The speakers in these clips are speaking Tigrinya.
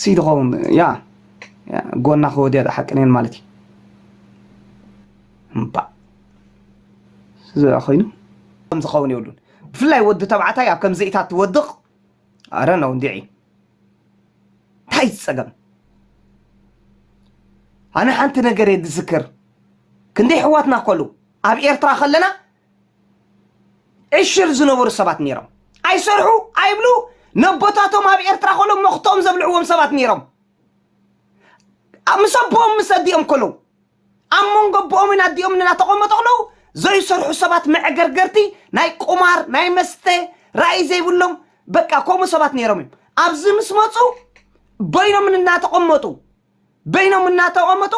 ሲ ድኸውን ያ ጎና ክወድያ ዝሓቅነየን ማለት እዩ እምባእ ዝብኣ ኮይኑ ከም ዝኸውን የብሉን ብፍላይ ወዲ ተባዕታይ ኣብ ከምዚኢታት ትወድቕ ኣረ ነው እንዲዒ እንታይ ዝፀገም ኣነ ሓንቲ ነገር እየ ዝዝክር ክንደይ ሕዋትና ከሉ ኣብ ኤርትራ ከለና ዕሽር ዝነበሩ ሰባት ነይሮም ኣይሰርሑ ኣይብሉ ነቦታቶም ኣብ ኤርትራ ከሎ መኽቶም ዘብልዕዎም ሰባት ነይሮም ምስ ኣቦኦም ምስ ኣዲኦም ከለው ኣብ መንጎ ኣቦኦምን ኣዲኦም እናተቐመጡ ከለው ዘይሰርሑ ሰባት መዕገርገርቲ ናይ ቁማር ናይ መስተ ራእይ ዘይብሎም በቃ ከምኡ ሰባት ነይሮም እዮም ኣብዚ ምስ መፁ በይኖም እናተቐመጡ በይኖም እናተቐመጡ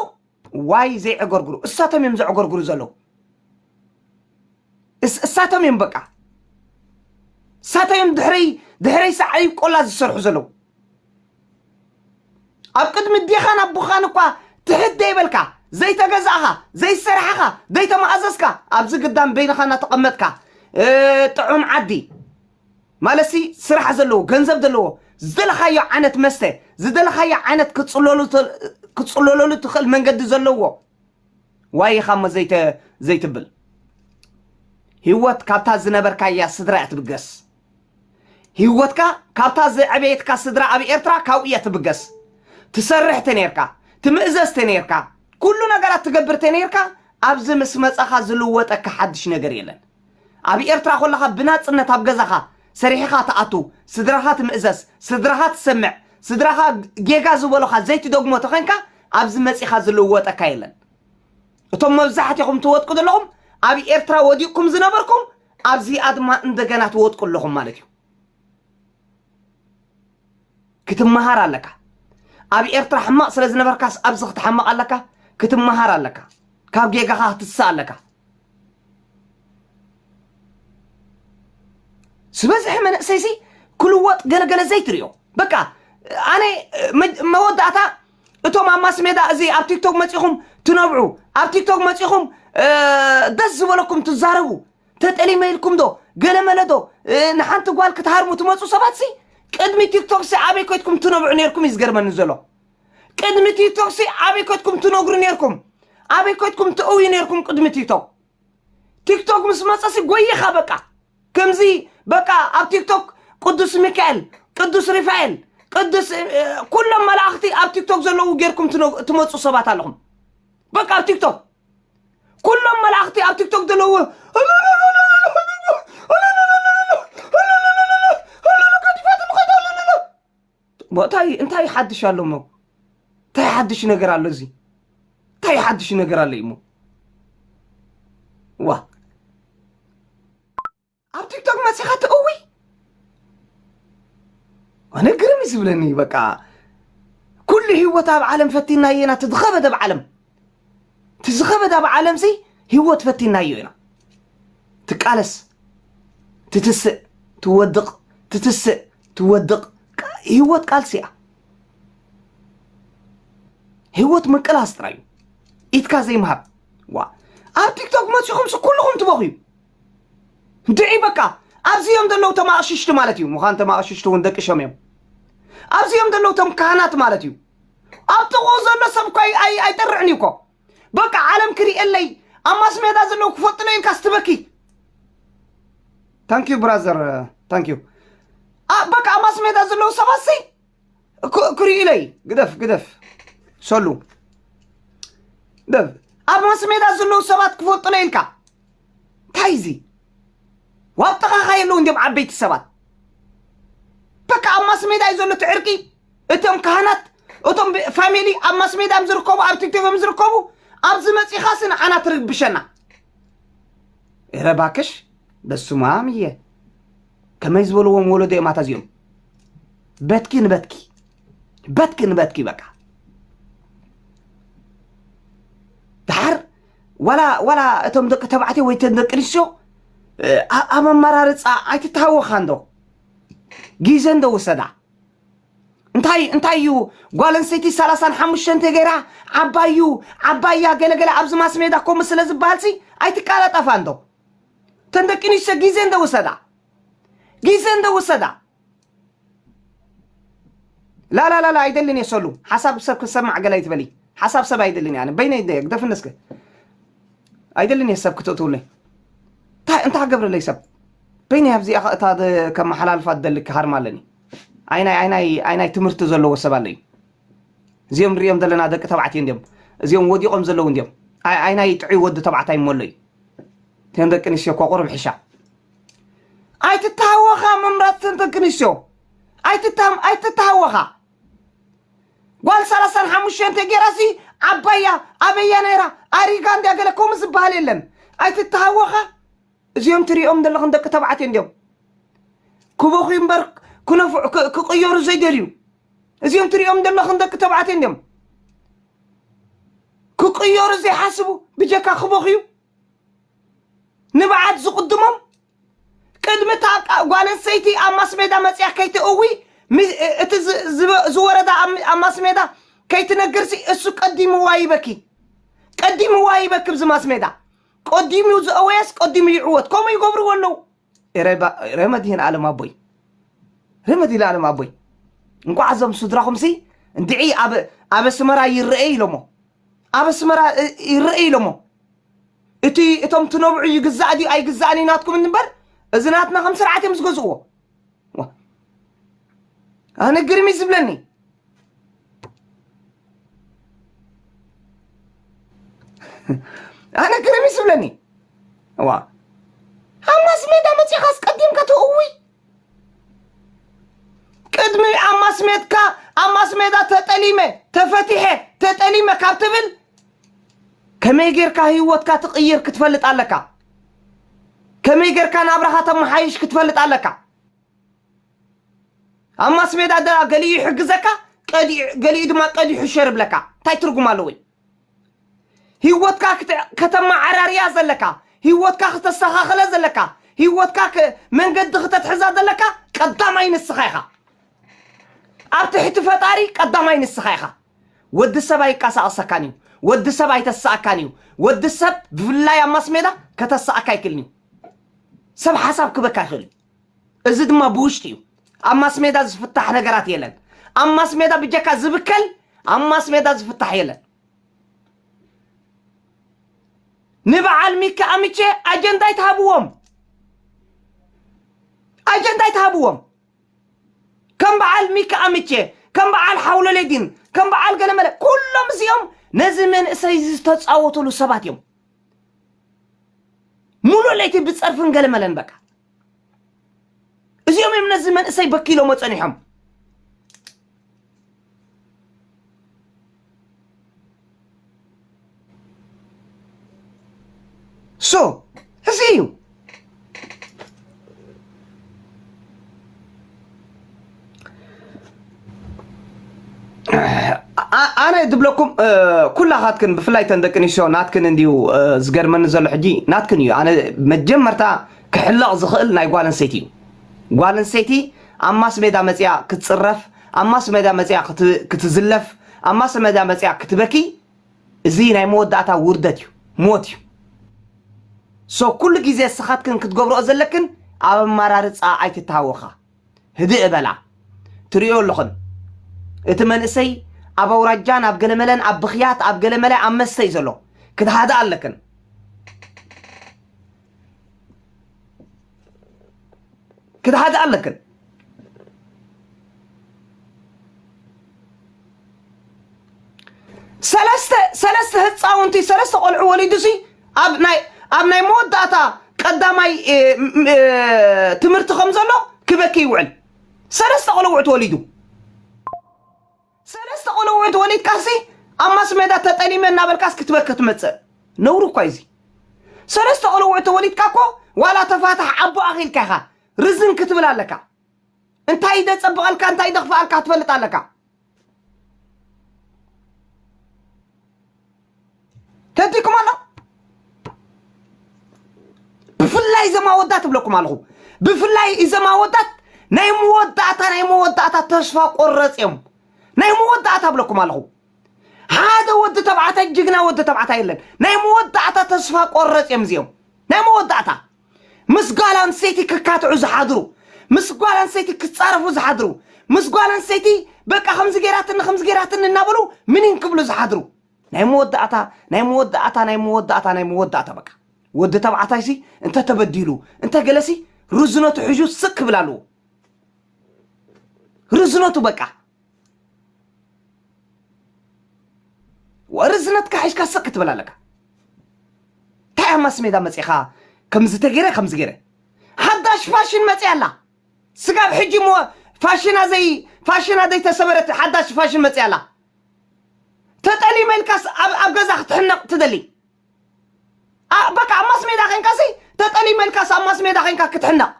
ዋይ ዘይዕገርግሩ እሳቶም እዮም ዘዕገርግሩ ዘለዉ እሳቶም እዮም በቃ እሳቶም እዮም ድሕረይ ድሕረይ ሳዕሪ ቆላ ዝሰርሑ ዘለዉ ኣብ ቅድሚ ዴኻን ኣቦኻን እኳ ትሕት ዘይበልካ ዘይተገዛእኻ ዘይሰራሕኻ ዘይተማእዘዝካ ኣብዚ ግዳም በይንኻ እናተቐመጥካ ጥዑም ዓዲ ማለትሲ ስራሕ ዘለዎ ገንዘብ ዘለዎ ዝደለኻዮ ዓይነት መስተ ዝደለኻዮ ዓይነት ክትፅለለሉ ትኽእል መንገዲ ዘለዎ ዋይ ኢኻ እሞ ዘይትብል ህይወት ካብታ ዝነበርካያ ስድራ እያ ትብገስ ህይወትካ ካብታ ዘዕበየትካ ስድራ ኣብ ኤርትራ ካብኡ እያ ትብገስ ትሰርሕ ተነርካ ትምእዘዝ ተነርካ ኩሉ ነገራት ትገብር ተነርካ ኣብዚ ምስ መጻኻ ዝልወጠካ ሓድሽ ነገር የለን ኣብ ኤርትራ ኮለኻ ብናጽነት ኣብ ገዛኻ ሰሪሒኻ ትኣቱ ስድራኻ ትምእዘስ ስድራኻ ትሰምዕ ስድራኻ ጌጋ ዝበሉኻ ዘይትደግሞ ተኾንካ ኣብዚ መጺኻ ዝልወጠካ የለን እቶም መብዛሕትኹም ትወጥቁ ዘለኹም ኣብ ኤርትራ ወዲቕኩም ዝነበርኩም ኣብዚኣ ድማ እንደገና ትወጥቁ ኣለኹም ማለት እዩ ክትመሃር ኣለካ ኣብ ኤርትራ ሕማቕ ስለ ዝነበርካስ ኣብዚ ክትሓምቕ ኣለካ ክትመሃር ኣለካ ካብ ጌጋኻ ክትስእ ኣለካ ዝበዝሐ መንእሰይሲ ክልወጥ ገለገለ ዘይትሪዮ በቃ ኣነ መ- መወዳእታ እቶም ኣብ ማስ ሜዳ እዚ ኣብ ቲክቶክ መፂኹም ትነብዑ ኣብ ቲክቶክ መፂኹም እ፣ ደስ ዝበለኩም ትዛረቡ ተጠሊመ ኢልኩም ዶ ገለመለ ዶ ንሓንቲ ጓል ክትሃርሙ ትመፁ ሰባት ሲ ቅድሚ ቲክቶክ ሲ ኣበይ ኮይትኩም ትነብዑ ነርኩም እዩ ዝገርመኒ ዘሎ ቅድሚ ቲክቶክ ሲ ኣበይ ኮይትኩም ትነግሩ ነርኩም ኣበይ ኮይትኩም ትእውዩ ነርኩም ቅድሚ ቲክቶክ ቲክቶክ ምስ መፀ ሲ ጎይኻ በቃ ከምዚ በቃ ኣብ ቲክቶክ ቅዱስ ሚካኤል ቅዱስ ሪፋኤል ቅዱስ እ፣ እ፣ ኩሎም መላእኽቲ ኣብ ቲክቶክ ዘለዉ ጌርኩም ትነ- ትመፁ ሰባት ኣለኹም በቃ ኣብ ቲክቶክ ኩሎም መላእኽቲ ኣብ ቲክቶክ ዘለዎ እንታይ እንታይ ሓድሽ ኣሎ እሞ እንታይ ሓድሽ ነገር ኣሎ እዚ እንታይ ሓድሽ ነገር ኣሎ እሞ ዋ ኣብ ቲክቶክ መፂኻ ትእዊ ኣነ ግርም እዩ ዝብለኒ በቃ ኩሉ ህይወት ኣብ ዓለም ፈቲናዮ ኢና እቲ ዝኸበደ ኣብ ዓለም እቲ ዝኸበደ ኣብ ዓለም ሲ ህይወት ፈቲናዮ ኢና ትቃለስ ትትስእ ትወድቕ ትትስእ ትወድቕ ቃ- ህይወት ቃልሲ እያ ህይወት ምቅላስ ጥራይ እዩ ኢትካ ዘይምሃብ ዋ ኣብ ቲክቶክ መፂኹም ሲ ኩልኹም ትበኽዩ እንድዒ በቃ ኣብዚ እዮም ዘለዉ እቶም ኣቕሽሽቲ ማለት እዩ ምዃን እቶም ኣቕሽሽቲ እውን ደቂ ሸም እዮም ኣብዚ እዮም ዘለዉ እቶም ካህናት ማለት እዩ ኣብ ጥቕኡ ዘሎ ሰብ እኳ ኣይ- ኣይ- ኣይጠርዕን እዩ እኮ በቃ ዓለም ክርእየለይ ኣብ ማስ ሜዳ ዘለዉ ክፈልጡለይ ኢልካ ስትበኪ ታንኪዩ ብራዘር ታንኪዩ በቃ ኣብ ማስ ሜዳ ዘለዉ ሰባት ሲ ክሪኡ ኢለይ ግደፍ ግደፍ ሰሉ ኣብ ማስሜዳ ዘለዉ ሰባት ክፈልጡለ ኢልካ እንታይ እዚ ዋብ ጥቓኻ የለዉ እንዲም ዓበይቲ ሰባት በቃ ኣብ ማስሜዳ እዩ ዘሎ እቲ ዕርቂ እቶም ካህናት እቶም ፋሚሊ ኣብ ማስሜዳ እዮም ዝርከቡ ኣብ ቲክቶክ እዮም ዝርከቡ ኣብዚ መፂኻ ሲ ንዓና ትርብሸና እረ ባክሽ በስማም እየ ከመይ ዝበልዎም ወለዶ እዮም ኣታ እዚኦም በትኪ ንበትኪ በትኪ ንበትኪ በቃ ድሓር ዋላ ዋላ እቶም ደቂ ተባዕትዮ ወይ እተን ደቂ ኣንስትዮ ኣብ ኣመራርፃ ኣይትተሃወኻ እንዶ ግዜ እንዶ ውሰዳ እንታይ እንታይ እዩ ጓል ኣንስተይቲ ሰላሳን ሓሙሽተን ተገይራ ዓባዩ ዓባያ ገለገለ ኣብዚ ማስ ሜዳ ከምኡ ስለ ዝበሃልሲ ኣይትቃላጠፋ እንዶ እተን ደቂ ኣንስትዮ ግዜ እንደ ወሰዳ ግዜ እንደ ወሰዳ ላላላላ ኣይደልን እየ ሰሉ ሓሳብ ሰብ ክሰማዕ ገለ ኣይትበሊ ሓሳብ ሰብ ኣይደልን እየ ኣነ በይነይ ደ ግደፍኒ እስከ ኣይደልን እየ ሰብ ክትእትውለይ እንታይ እንታይ ክገብረለይ ሰብ በይነይ ኣብዚኣ እታ ከመሓላልፋ ዝደሊ ክሃርማ ኣለኒ ኣይናይ ኣይናይ ኣይናይ ትምህርቲ ዘለዎ ሰብ ኣለዩ እዚኦም ንሪኦም ዘለና ደቂ ተባዕትዮ እንድዮም እዚኦም ወዲቖም ዘለዉ እንድዮም ኣይናይ ጥዑይ ወዲ ተባዕታይ እሞ ኣሎ እዩ እተን ደቂ ኣንስትዮ እኮ ቁሩብ ሕሻ ኣይትተሃወኻ ምምራፅ እተን ደቂ ኣንስትዮ ኣይትተሃወኻ ጓል ሰላሳን ሓሙሽተን ተጌራሲ ዓባያ ኣበያ ነይራ ኣሪጋ እንድያ ገለ ከምኡ ዝበሃል የለን ኣይትተሃወኻ እዚኦም ትሪኦም ዘለኹም ደቂ ተባዕትዮ እንድዮም ክበኹ እምበር ክነፍዑ ክቕየሩ ዘይደልዩ እዚኦም ትሪኦም ዘለኹም ደቂ ተባዕትዮ እንዲዮም ክቅየሩ ዘይሓስቡ ብጀካ ክበኽዩ ንብዓት ዝቕድሞም ቅድሚ እታ ጓል ኣንስተይቲ ኣብ ማስሜዳ መፅያ ከይትእዊ ሚ- እቲ ዝ- ዝወ- ዝወረዳ ኣብ ሚ- ኣብ ማስሜዳ ከይትነግርሲ እሱ ቀዲምዋ ይበኪ ቀዲምዋ ይበኪ ብዚ ማስሜዳ ቀዲሙ ዝእወየስ ቀዲሙ ይዕወት ከምኡ ይገብርዎ ኣለዉ ረመት ይህን ኣለም ኣቦይ ረመት ይህን ኣለም ኣቦይ እንኳዕ ኣዞም ስድራኹም ሲ እንድዒ ኣብ ኣብ ኣስመራ ይረኤ ኢሎሞ ኣብ ኣስመራ ይረኤ ኢሎሞ እቲ እቶም ትነብዑ ይግዛእ ድዩ ኣይግዛእን እዩ ናትኩም እንበር እዚ ናትና ከም ስርዓት እዮም ዝገዝእዎ ኣነ ግርሚ ዝብለኒ ኣነ ግርም ይስብለኒ ዋ ኣብ ማስ ሜዳ መፂኻ ኣስቀዲምካ ተእውይ ቅድሚ ኣብ ማስ ሜድካ ኣብ ማስ ሜዳ ተጠሊመ ተፈቲሐ ተጠሊመ ካብ ትብል ከመይ ጌርካ ህይወትካ ትቕይር ክትፈልጥ ኣለካ ከመይ ጌርካ ናብራኻ ተመሓይሽ ክትፈልጥ ኣለካ ኣብ ማስሜዳ ዳ ገሊኡ ይሕግዘካ ቀዲዑ- ገሊኡ ድማ ቀዲሑ ሸር ይብለካ እንታይ ትርጉም ኣለዎ እዩ ሂወትካ ክተ- ከተመዓራርያ ዘለካ ሂወትካ ክተስተኻኽለ ዘለካ ሂወትካ ክ- መንገዲ ክተትሕዛ ዘለካ ቀዳማይ ንስኻ ኢኻ ኣብ ትሕቲ ፈጣሪ ቀዳማይ ንስኻ ኢኻ ወዲ ሰብ ኣይቀሳቐሰካን እዩ ወዲ ሰብ ኣይተስኣካን እዩ ወዲ ሰብ ብፍላይ ኣብ ማስሜዳ ከተስኣካ ኣይክልን እዩ ሰብ ሓሳብ ክበካ ይኽእል እዩ እዚ ድማ ብውሽጢ እዩ ኣብ ማስሜዳ ዝፍታሕ ነገራት የለን ኣብ ማስሜዳ ብጀካ ዝብከል ኣብ ማስሜዳ ዝፍታሕ የለን ንበዓል ሚካ ኣምቼ ኣጀንዳ ኣይትሃብዎም ኣጀንዳ ኣይትሃብዎም ከም በዓል ሚካ ኣምቼ ከም በዓል ሓውለሌዲን ከም በዓል ገለመለ ኩሎም እዚኦም ነዚ መንእሰይ እዚ ዝተፃወትሉ ሰባት እዮም ሙሉእ ለይቲ ብፀርፍን ገለመለን በቃ እዚኦም እዮም ነዚ መንእሰይ በኪሎሞ ፀኒሖም ሶ እዚ እዩ ኣ- ኣነ ዝብለኩም እ፣ ኩላኻትክን ብፍላይ ተን ደቂ ኣንስትዮ ናትክን እንድዩ እ፣ ዝገርመኒ ዘሎ ሕጂ ናትክን እዩ ኣነ መጀመርታ ክሕለቕ ዝኽእል ናይ ጓል ኣንስተይቲ እዩ ጓል ኣንስተይቲ ኣብ ማስ ሜዳ መፅያ ክትፅረፍ ኣብ ማስ ሜዳ መፅያ ክት- ክትዝለፍ ኣብ ማስ ሜዳ መፅያ ክትበኪ እዚ ናይ መወዳእታ ውርደት እዩ ሞት እዩ so ኩሉ ግዜ እስኻትክን ክትገብርኦ ዘለክን ኣብ ኣማራርጻ ኣይትታሃወኻ ህድእ በላ ትርእዮ ኣለኽን እቲ መንእሰይ ኣብ ኣውራጃን ኣብ ገለመለን ኣብ ብኽያት ኣብ ገለመለ ኣብ መስተ እዩ ዘሎ ክትሃድኣ ኣለክን ክትሓታ ኣለክን ሰለስተ ሰለስተ ህፃውንቲ ሰለስተ ቆልዑ ወሊዱ ሲ ኣብ ናይ ኣብ ናይ መወዳእታ ቀዳማይ እ፣ ም፣ እ፣ ትምህርቲ ከም ዘሎ ክበኪ ይውዕል ሰለስተ ቆልዑት ወሊዱ ሰለስተ ቆልዑ እንተወሊድካሲ ኣብ ማስሜዳ ተጠሊመ እናበልካስ ክትበኪ ትመፅእ ነውሪ እኳ እዩ እዚ ሰለስተ ቆልዑ እንተወሊድካ እኮ ዋላ ተፋታሕ ኣቦ ኣኺልካ ኢኻ ርዝን ክትብል ኣለካ እንታይ ደፀብቐልካ እንታይ ደኽፍኣልካ ትፈልጥ ኣለካ ተቲኩም ኣሎ ብፍላይ እዞም ኣወዳት እብለኩም ኣለኹ ብፍላይ እዞም ኣወዳት ናይ መወዳእታ ናይ መወዳእታ ተስፋ ቆረፅ እዮም ናይ መወዳእታ እብለኩም ኣለኹ ሓደ ወዲ ተባዕታይ ጅግና ወዲ ተባዕታይ የለን ናይ መወዳእታ ተስፋ ቆረፅ እዮም እዚኦም ናይ መወዳእታ ምስ ጓል ኣንስተይቲ ክካትዑ ዝሓድሩ፣ ምስ ጓል ኣንስተይቲ ክጻረፉ ዝሓድሩ፣ ምስ ጓል ኣንስተይቲ በቃ ከምዚ ገይራትኒ ከምዚ ገይራትኒ እናበሉ ምኒን ክብሉ ዝሓድሩ፣ ናይ መወዳእታ ናይ መወዳእታ ናይ መወዳእታ ናይ መወዳእታ በቃ ወዲ ተባዕታይሲ እንተ ተበዲሉ እንተ ገለሲ ርዝነቱ ሒዙ ስቅ ክብል ኣለዎ ርዝነቱ በቃ ርእስነትካ ሒሽካ ስቅ ክትብል ኣለካ እንታይ ኣብ ማስሜዳ መፂእካ ከምዚ ተገይረ ከምዚ ገይረ ሓዳሽ ፋሽን መፂኣ ኣላ ስጋብ ሕጂ እሞ ፋሽና ዘይ ፋሽና ዘይተሰበረት ሓዳሽ ፋሽን መፂኣ ኣላ ተጠሊመ ኢልካስ ኣብ ኣብ ገዛ ክትሕነቕ ትደሊ ኣ- በቃ ኣብ ማስሜዳ ኮንካሲ ተጠሊመ ኢልካስ ኣብ ማስሜዳ ኮንካ ክትሕነቕ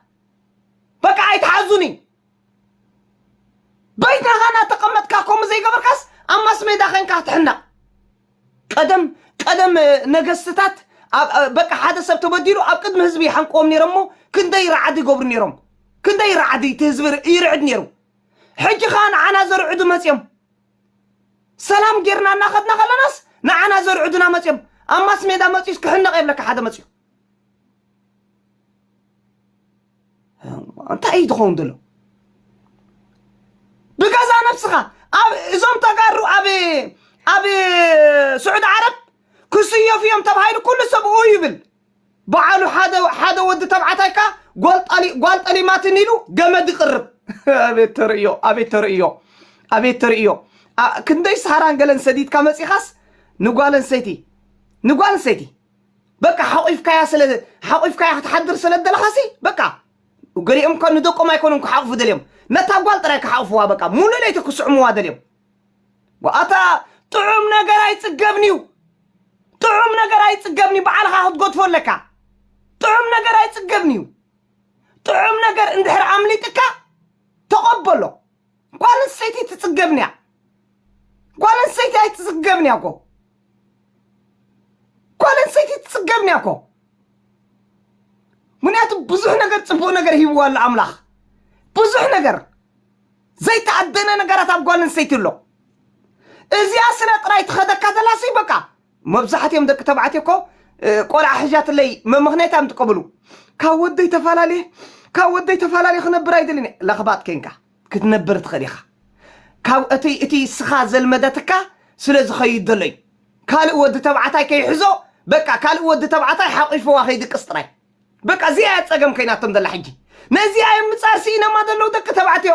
በቃ ኣይትሓዙኒ በይትኻ እናተቐመጥካ ከምኡ ዘይገበርካስ ኣብ ማስሜዳ ዄንካ ትሕነቕ ቀደም ቀደም ነገስትታት በቃ ሓደ ሰብ ተበዲሉ ኣብ ቅድሚ ህዝቢ ይሓንቅዎም ነይሮም እሞ ክንደይ ራዕዲ ይገብሩ ነይሮም ክንደይ ራዕዲ እቲ ህዝቢ ይርዕድ ነይሩ ሕጂ ከዓ ንዓና ዘርዕዱ መፅዮም ሰላም ጌርና እናኸድና ከለናስ ንዓና ዘርዕዱና መፅዮም ኣብ ማስ ሜዳ መፅዩስ ክሕነቕ የብለካ ሓደ መፅዩ እንታይ እዩ ዝኸውን ዘሎ ብገዛ ነብስኻ ኣብ እዞም ተጋሩ ኣብ ኣብ ስዑድ ዓረብ ክስየፉ እዮም ተባሂሉ ኩሉ ሰብ ኡ ይብል በዓሉ ሓደ ሓደ ወዲ ተባዕታይ ከ ጓል ጠሊ- ጓል ጠሊማትን ኢሉ ገመድ ይቕርብ ኣቤት ተርእዮ ኣቤት ተርእዮ ኣቤት ተርእዮ ኣ- ክንደይ ሳራን ገለን ሰዲድካ መፂኻስ ንጓል ኣንስተይቲ ንጓል ኣንስተይቲ በቃ ሓቚፍካያ ስለ ሓቚፍካያ ክትሓድር ስለ ዝደለኻሲ በቃ ገሊኦም እኳ ንደቆም ኣይኮኑን ክሓቑፉ ደልዮም ነታ ጓል ጥራይ ክሓቑፍዋ በቃ ሙሉእ ለይቲ ክስዕምዋ ደልዮም ኣታ ጥዑም ነገር ኣይጽገብን እዩ ጥዑም ነገር ኣይጽገብን እዩ በዓልኻ ክትጎትፎ ኣለካ ጥዑም ነገር ኣይጽገብን እዩ ጥዑም ነገር እንድሕር ኣምሊጥካ ተቐበሎ ጓል ኣንስተይቲ ትፅገብን እያ ጓል ኣንስተይቲ ኣይትፅገብን እያ እኮ ጓል ኣንስተይቲ ትፅገብን እያ እኮ ምክንያቱ ብዙሕ ነገር ፅቡቅ ነገር ሂብዋ ኣሎ ኣምላኽ ብዙሕ ነገር ዘይተኣደነ ነገራት ኣብ ጓል ኣንስተይቲ ኣሎ እዚኣ ስለ ጥራይ ትኸደካ ተላሲ በቃ መብዛሕቲኦም ደቂ ተባዕትዮ እኮ ቆልዓ ሕዣትለይ መመኽንያት እዮም ዝጥቀምሉ። ካብ ወደይ ተፋላልየ ካብ ወደይ ተፋላልየ ክነብር ኣይደልን እየ። ለኽባጥ ኬንካ ክትነብር ትኽእል ኢኻ። ካብ እቲ እቲ ስኻ ዘልመደትካ ስለ ዝኸይድ ዘሎ እዩ። ካልእ ወዲ ተባዕታይ ከይሕዞ በቃ ካልእ ወዲ ተባዕታይ ሓቚፍዋ ከይድቅስ ጥራይ። በቃ እዚኣ እያ ጸገም ኮይናቶም ዘላ ሕጂ። ነዚኣ እዮም ንጻር ስኢነማ ዘለዉ ደቂ ተባዕትዮ።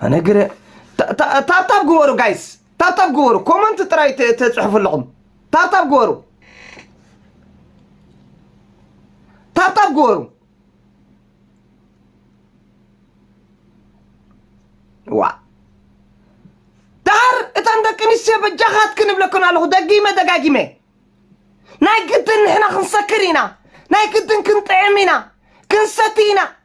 ኣነ ግረ ታ- ታ- ታብታብ ግበሩ ጋይስ ታብታብ ግበሩ ኮመንት ጥራይ ተ- ተፅሕፉ ኣለኹም ታብታብ ግበሩ ታብታብ ግበሩ ዋ ዳር እተን ደቂ ኣንስትዮ በጃኻት ክንብለክን ኣለኹ ደጊመ ደጋጊመ ናይ ግድን ንሕና ክንሰክር ኢና ናይ ግድን ክንጥዕም ኢና ክንሰቲ ኢና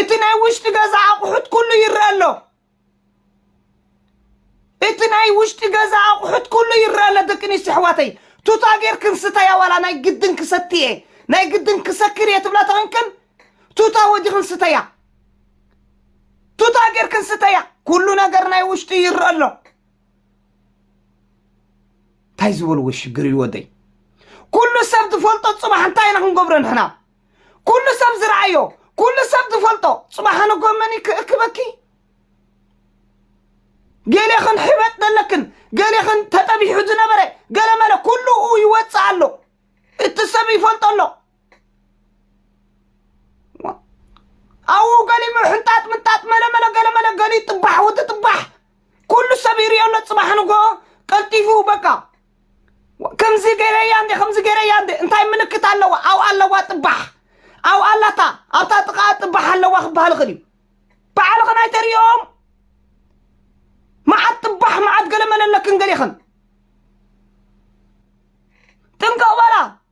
እቲ ናይ ውሽጢ ገዛ ኣቑሑት ኩሉ ይረአ ኣሎ እቲ ናይ ውሽጢ ገዛ ኣቑሑት ኩሉ ይረአ ኣሎ ደቂ ኣንስትዮ ኣሕዋተይ ቱታ ጌርክን ስተያ ዋላ ናይ ግድን ክሰቲ እየ ናይ ግድን ክሰክር እየ ትብላ ተኾንክን ቱታ ወዲኽን ስተያ ቱታ ጌርክን ስተያ ኩሉ ነገር ናይ ውሽጢ ይረአ ኣሎ እንታይ ዝበልዎ ሽግር እዩ ወደይ ኩሉ ሰብ ዝፈልጦ ፅባሕ እንታይ ኢና ክንገብሮ ንሕና ኩሉ ሰብ ዝረኣዮ ኩሉ ሰብ ዝፈልጦ ፅባሕ ንጎመን ክእክበኪ ገሌኽን ሕበጥ ዘለክን ገሌኽን ተጠቢሑ ዝነበረ ገለመለ ኩሉኡ ይወፅእ ኣሎ እቲ ሰብ ይፈልጦ ኣሎ ኣብኡ ገሊሙ ሕንጣጥ ምንጣጥ መለመለ ገለመለ ገሊ ጥባሕ ወዲ ጥባሕ ኩሉ ሰብ ይሪኦ ኣሎ ፅባሕ ንጎ ቀልጢፉ በቃ ከምዚ ገይረያ እንደ ከምዚ ገይረያ እንደ እንታይ ምልክት ኣለዋ ኣብኡ ኣለዋ ጥባሕ ኣብኡ ኣላታ ኣብታ ጥቓ ጥባሕ ኣለዋ ክበሃል ይኽእል እዩ ባዕልኽን ኣይተርእዮም መዓት ጥባሕ መዓት ገለ መለለክን ገሌኽን ጥንቀቕ በላ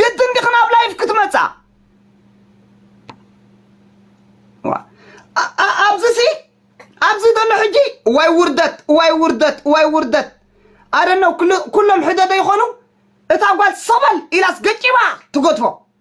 ግድን ዲኺ ናብ ላይፍ ክትመፃ ኣብዚ ሲ ኣብዚ ዘሎ ሕጂ ዋይ ውርደት ዋይ ውርደት ዋይ ውርደት ኣደነው ኩሎም ሕደደ ይኾኑ እታ ጓል ሰበል ኢላስ ገጭባ ትጎትፎ